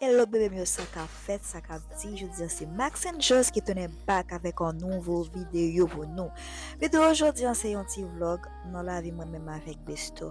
Hello bebe m yo sa ka fèt sa ka di jodi an se Max and Joss ki tounen back avèk an nouvo videyo pou nou. Videyo jodi an se yon ti vlog nan lavi mwen menm avèk Besto.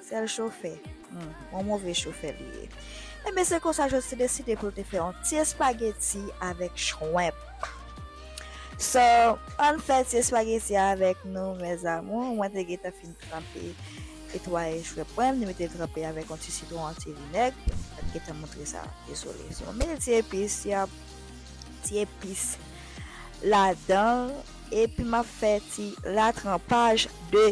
Sèl chofè? Humm, yon move chofè li ye. Enben se konsa Jòj te deside pou l te fè yon ti espageti avèk chwenp. So, ann fè ti espageti a avèk nou mes amours. Mwen te gentan fin tranpe etwaye chwenp mwen, m te mete l tranpe avèk yon ti sitwon, yon ti vinèg. Mwen pa t gentan montre sa, dezole. So, m mete ti epis, ti epis ladan l. Epi m ap fè ti ratranpaj de.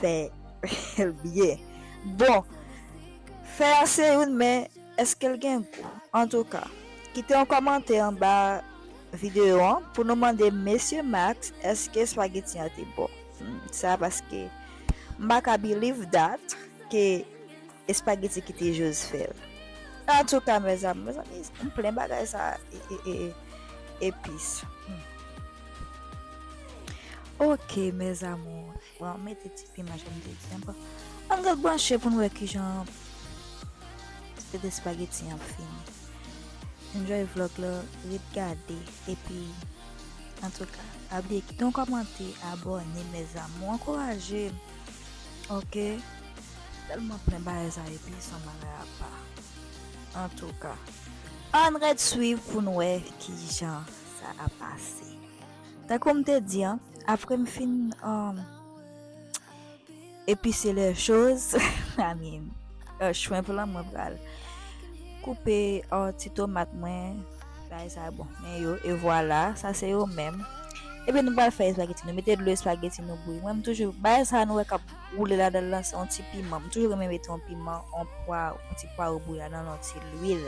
fè l byen bon fè a se youn men eske l gen gou antouka kite yon kòmantè anba videyo an pou nou mande mesye Max eske spageti an te bon sa paske m paka biliv dat ke Espageti kite jose fel. Antouka mes amour mes amis m plen bagay sa epis humm. Ok mes amour bon m mete ti piman janm te di an bon ann ret branche poun wè kijan resèt espageti an ap fini enjoy vlog la ret gade epi antouka pa bliye kite yon kòmante abòne mes amour ankourajem ok. Telman plen bagay sa epi san bagay apa antouka ann ret swiv poun wè kijan sa ap pase tankoum te di an aprem fin epise lè choz I mean shrimp lan mwen pral koupe ti tomat mwen bay sa bon men yo e vwala sa se yo menm epi nou pral fè espageti nou mete dlo espageti nou bouyi mwen m toujou bagay sa nou wè kap Woule ladanl lan se yon ti piman m toujou renmen mete yon piman yon pwa yon ti pwaro bouya nan yon ti lwil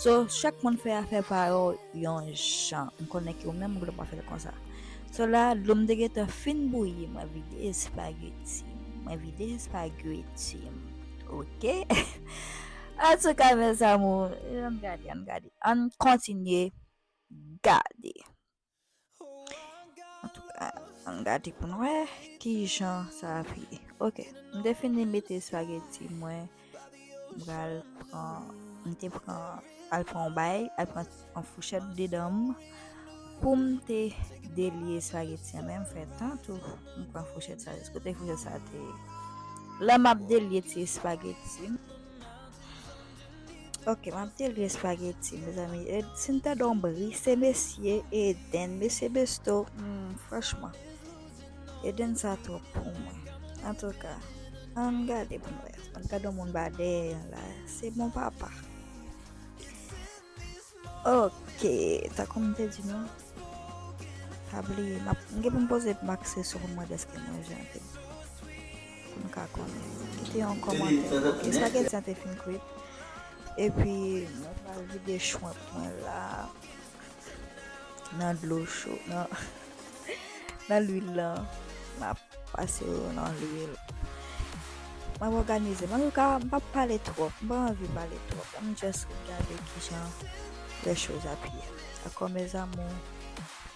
so chak moun fè afè pa yo yon jan m konnen ke ou menm ou gnlè pa fèl konsa so la dlo m te gentan fin bouyi mwen vide espageti mwen vide espageti m ok antouka mes amour ann gade ann gade ann kontinye gade. Ann gade pou nou wè ki jan sa ap ye. Ok, m te fini mete spaghetti mwen. M pral pran, m te pran al pran yon bay, al pran yon fouchèt dedan m. Pou m te delye spaghetti an men m fè tan tou. M pran fouchèt sa, kote fouchèt sa te. Lè m ap delye ti spaghetti m. Ok map di li espageti mezanmi e si n ta don bri se mesye Eden mesye Besto hmm, franchman Eden sa twòp pou mwen antouka an gade pou mwen an gade moun ba dèyè yon la se bon papa ok takou m te di nou pa bliye m gen pou m poze pou m akse sou pou mwen deske mwen jante Pou nou ka konn. Kite yon kòmantè. Ok spaghetti an te fin kwit. Epi mwen pral vide shrimp mwen la nan dlo cho nan nan lwil lan. Map pase yo nan lwil. Map òganize. Mwen ka m pap pale twòp. M pa anvi pale twòp. An nou just gade kijan lè choz ap ye. Dakò mes amours.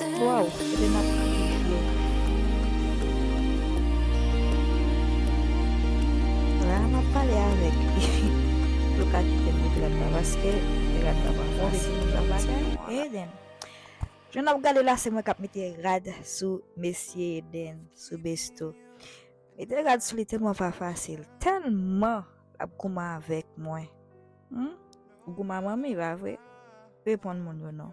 Waww ebyen nap kriye byen. La map pale avek li pou l ka kitem pou pirat la paske pirat la pa fasil pou pirat la Eden jan nap gade la se mwen kap mete rad sou mesye Eden sou besto mete rad sou li telman pa fasil telman lap gouman avek mwen humm ou gouman manmi pa vre reponn moun yo non.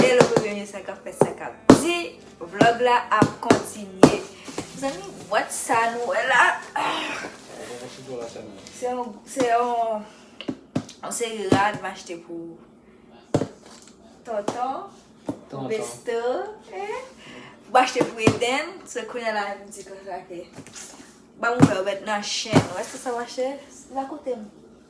Hello Rene sa kap fèt sa kap di vlog la ap kontinye mezanmi bwat sa nou wè la se yon se yon seri rad m achte pou tonton tonton besto m achte pou Eden se kounya la m di konsa ke banm wè ou met nan chèn wè se sa m achte la koute m.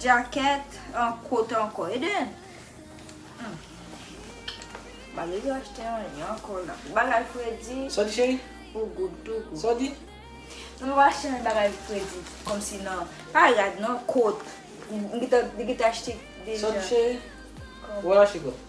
Jacket an kot anko. E den. Hum. Bagay yo achte an yon anko la. Bagay fredi. Sa w di cheri? Ou good tou good. Sa w di? Mwen pa achte an bagay fredi. Kom si nan. Pa rad non. Kot. Li gete achte deja. Sa w di cheri? Ou al achte kot?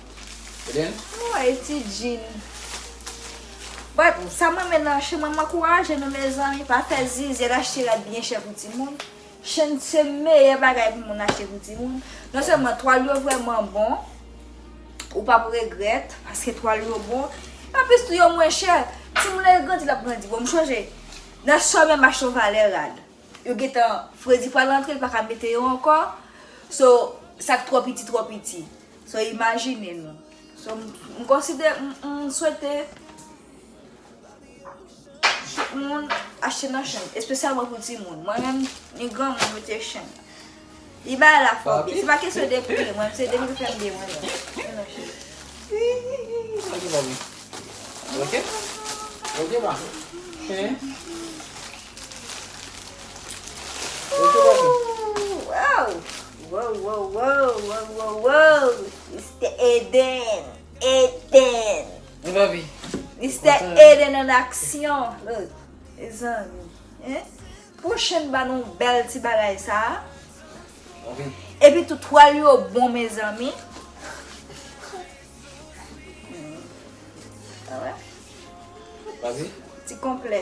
Woy ti djin. Bon sa mwen men nan chen mwen mwen kouraje nou mezanmi pa fè zizi al achte rad byen chè pou ti moun. Chen se meyè bagay pou moun achte pou ti moun. Non sèlman twal yo vrèman bon. Ou pap regrèt paske twal yo bon. An plis tou yo mwen chè. Ti moun nan grandi lap grandi. Bon m chonje nan sè mwen mache yon valè rad. Yo getan fredi pral antre li pa ka mete yo ankò. So sak twò piti twò piti. So imajine nou. So m konside m swete tout moun achte nan chen. Espesyalman pou ti moun. Mwen menm ni gran moun mwen te chen. Li ba la fòbi. Se pa kesyon de pri mwen. Se de mwen fèm de mwen. Ok. Ok ba. Chen. Wow. Wowowowowowowowowoww Mistè Eden Eden Wi Bobby Mistè Eden an aksyon look Mezanmi hein Pwochèn ba nou bèl ti bagay sa Epi tou twal yo bon mezanmi Ti konplè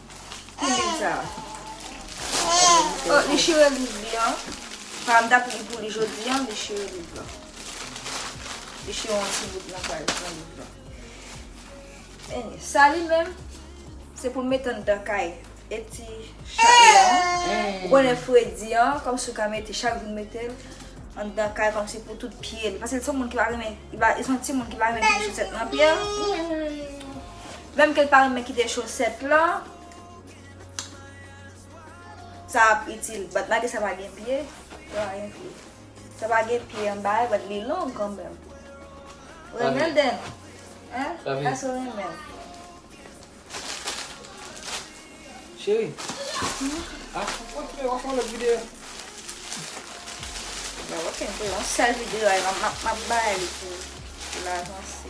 Ki liv sa a? Oh, li chire liv li an. Sa m t ap li pou li jodi an, li chire liv la. Li chire yon ti bout nan paj nan liv la. Anyway, sa li menm, se pou mete anndan kay. E ti chat li an, ou konnen fredi an, kòmsi ou ka mete chak jou mete l anndan kay kòmsi pou tout pye l. Paske l se yon moun ki pa renmen, li se yon timoun ki pa renmen gen chosèt nan pye l. Menm kel pa renmen kite chosèt lan sa ap itil but malgre sa pa gen pye sa pa gen pye anba l but li long kanmenm ou renmen l den hein èske ou renmen l Cheri ah ou kontinye wap fè yon lòt videyo ok se yon sèl videyo map bay li pou l avanse.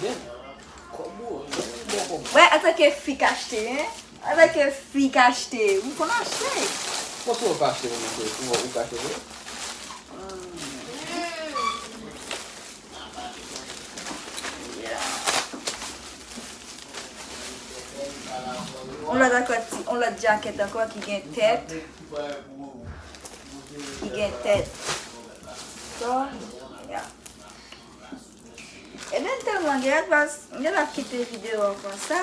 Gen kob ou wi zanmi bon kob. Wè antanke fi k achte hein. Antanke fi k achte ou konn achte. Bon si ou pa achte menm tou ou ka achte vre. On lot jacket anko ki gen tet. Ki gen tet. Ebyn telman gen lè pas m gentan kite video an konsa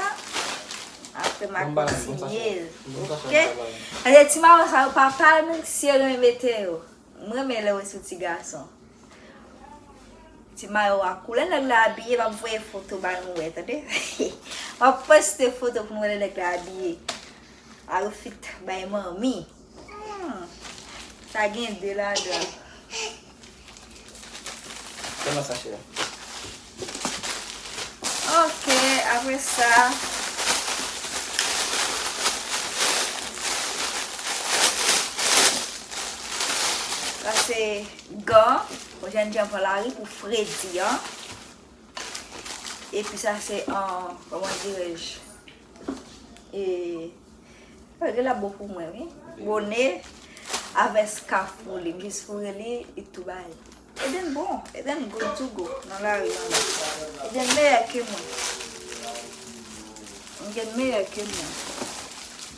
aprè ma kontinyel ok paske ti maron sa yo papal menm si yo renmen mete yo m renmen lè yo sou ti gason ti mayo a kou lè nèg la abiye map voye foto ba nou wè tande map poste foto pou nou wè lè nèg la abiye al ou fit bay manmi. Sa gen 2 ladan. Kòman sa chè a? Ok, apre sa. Sa se gan. Pou jen jan pran la ri pou fredi an. E pi sa se an, kòman dirèj? E Page la bon pou mwen wi. Bone avè skaf pou li. M jis foure li e tou bay. Eden bon. Eden good to go nan lari an la. Eden meyè ke mwen. Eden meyè ke mwen.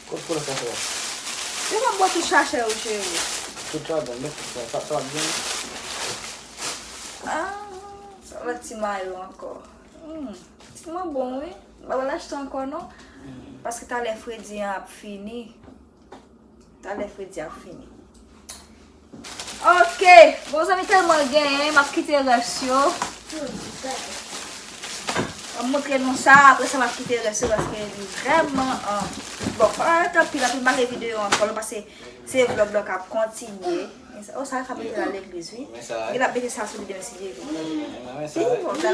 Kot pou la sa fè? Yo pa bò tout chachè yo cheri. Tout sa bon men tout sa. Sa ap byen. Sa va ti mayo ankò. Ti mwen bon wi. Mwen pa lach tan ankò non. Paske talè fredi an ap fini. Talè fredi ap fini. Ok. Bon zanmi telman genyen. Map kite res yo. Mwen moutre nou sa. Apre sa map kite res yo. Paske li vreman. Bon pa anè tan pi. Anpil bagay video an. Kolon pase. Se vlog la kap kontinye. O sa fap mete la legliz wi. Mwen sa. Mwen sa. Mwen sa.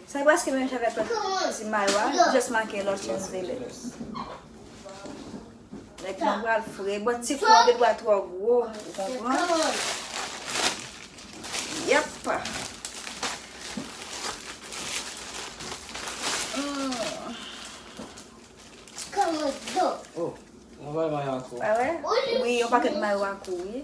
Sa preske menm jan avèk lòt ti mayo a, li just make Los Angeles. Nèg lan pral fre. Bon ti fon gen dwa twò gwo, ou konprann? Yep. Ou wè, yon pakèt mayo a kou wi.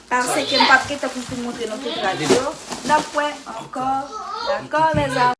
Pase ke m pap gen tan pou m fin montre nou tout rad yo. N ap wè ankò. Dakò les amours.